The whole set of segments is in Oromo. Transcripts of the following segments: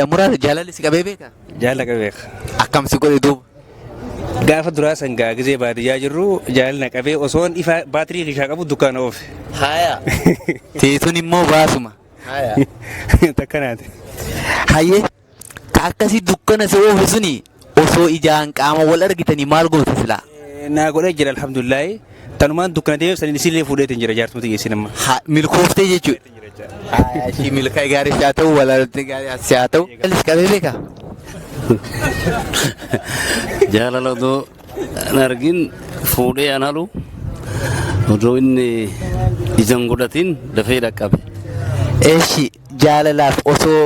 Muraasa jaalalli si qabee beekaa? Jaalala qabee beeka. Akkam si godhe duuba? Gaafa duraa san gaa gizee baadiyyaa jirru jaalala na qabee osoon ifa baatirii kishaa qabu dukkaana oofe. Haaya. Teessuun immoo baasuma. Haaya. Takkanaati. Hayyee ka akkasii dukkana si oofu suni Osoo ijaan qaama wal argitanii maal gootu silaa? Naa godhee jira alhamdulillahi. Tanumaan dukkana deemeef saniin isiillee fuudheetiin jira jaartii mata geessiin amma. Ha, milkooftee jechuudha. Haa, ishii milkaa'e gaarii si haa ta'u, walaalatti gaarii si haa ta'u. Alis qabee beekaa? jaalala odoo hin argin fuudhee an halu odoo inni ija hin godhatin dafee dhaqqabe. Eshi jaalalaaf osoo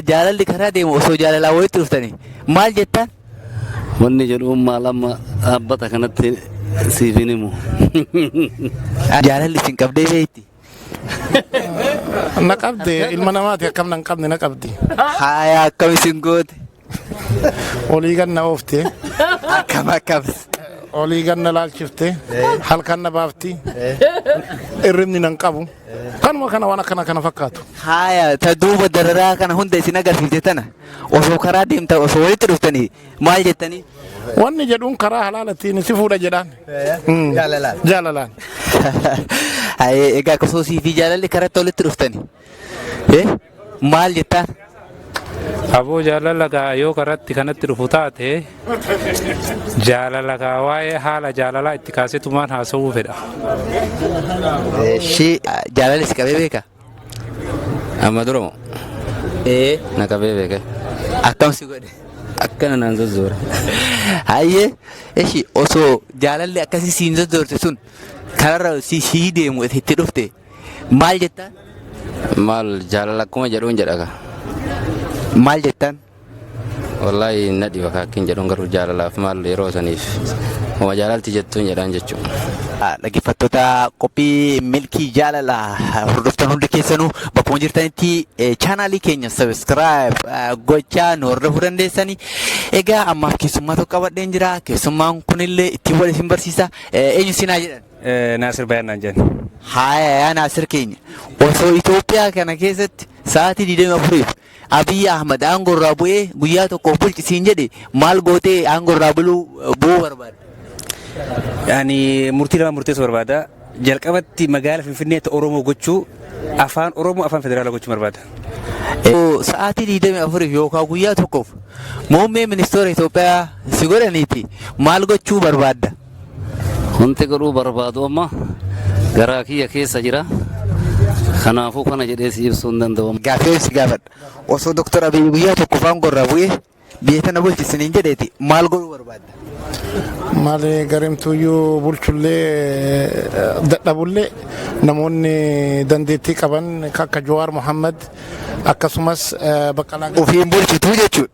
Jaalalli karaa deemu osoo jaalalaan walitti dhuftanii maal jettaan? Wanni jedhuun maal amma dhaabbata kanatti siif hin himu. Jaalalli isin qabdee beekti. Na qabde ilma namaati akkam nan qabne na qabdi. Haaya akkam isin goote? olii ganna oofte akkam akkam olii ganna laalchifte halkan na baafti irribni nan qabu kanuma kana waan akkana kana fakkaatu haaya ta duuba dararaa kana hunda isin agarsiifte tana osoo karaa deemta osoo walitti dhuftanii maal jettanii wanni jedhuun karaa halaalattiin si fuudha jedhaan Mm. jaalalaan egaa akkasumas fi jaalalli karatti walitti dhuftanii Eh, maal jettaan? Aboo jaalala gaa yoo karatti kanatti dhufu taate jaalala gaa waa'ee haala jaalalaa itti kaasetumaan haasawuu fedha. Ishii jaalalli si qabee beeka? Amma dura moo? Ee. Na qabee beeka. Akkam si godhe? Akkana naan zozzoora. Hayyee ishii osoo jaalalli akkasii siin zozzoorte sun kanarra si sii deemu itti dhufte Maal jettaan? Maal jaalala akkuma jedhuun jedha kaa. Maal jettaan? Wallaahi na dhiba kaa akkin jedhuun garuu jaalalaaf maal yeroo saniif. Uma jaalalti jettuun jedhaan jechuudha. Ah, Dhaggeeffattoota qophii milkii jaalala hordoftan hundi keessanuu bakkuma jirtanitti eh, chaanaalii keenya sabiskiraayib gochaa nu hordofuu dandeessanii. Egaa ammaaf keessummaa tokko qabadheen jira. Keessummaan kunillee ittiin wal isin barsiisa. Eh, Eenyu sinaa jedhan? Naasir Bayaan naan jedhan. Haaya yaa Naasir keenya osoo Itoophiyaa kana keessatti sa'aatii 24f Abiy Ahmad aangoo irraa bu'ee guyyaa tokkoof bulchi siin jedhe maal gootee aangoo irraa buluu bu'uu barbaadda? Ani murtii lama murteessuu barbaada. Jalqabatti magaala Finfinneetti Oromoo gochuu afaan Oromoo afaan federaalaa gochuu barbaada. Yoo Sa'aatii 24f yookaan guyyaa tokkoof muummee ministeera Itoophiyaa si godhaniiti maal gochuu barbaadda? Wanti godhuu barbaadu amma garaa kiyya keessa jira. Kanaafuu kana jedhee si ibsuu hin danda'u. Gaaffiin si gaafadha. Osoo Dooktar Abiyyi guyyaa tokko faan gorraa bu'ee biyya tana bulchisi niin jedheeti maal godhuu barbaadda? Maali garimtuyyuu bulchullee dadhabullee namoonni dandeettii qaban akka Jawaar Mohaammed akkasumas Baqqalaa Ofiin bulchituu jechuudha.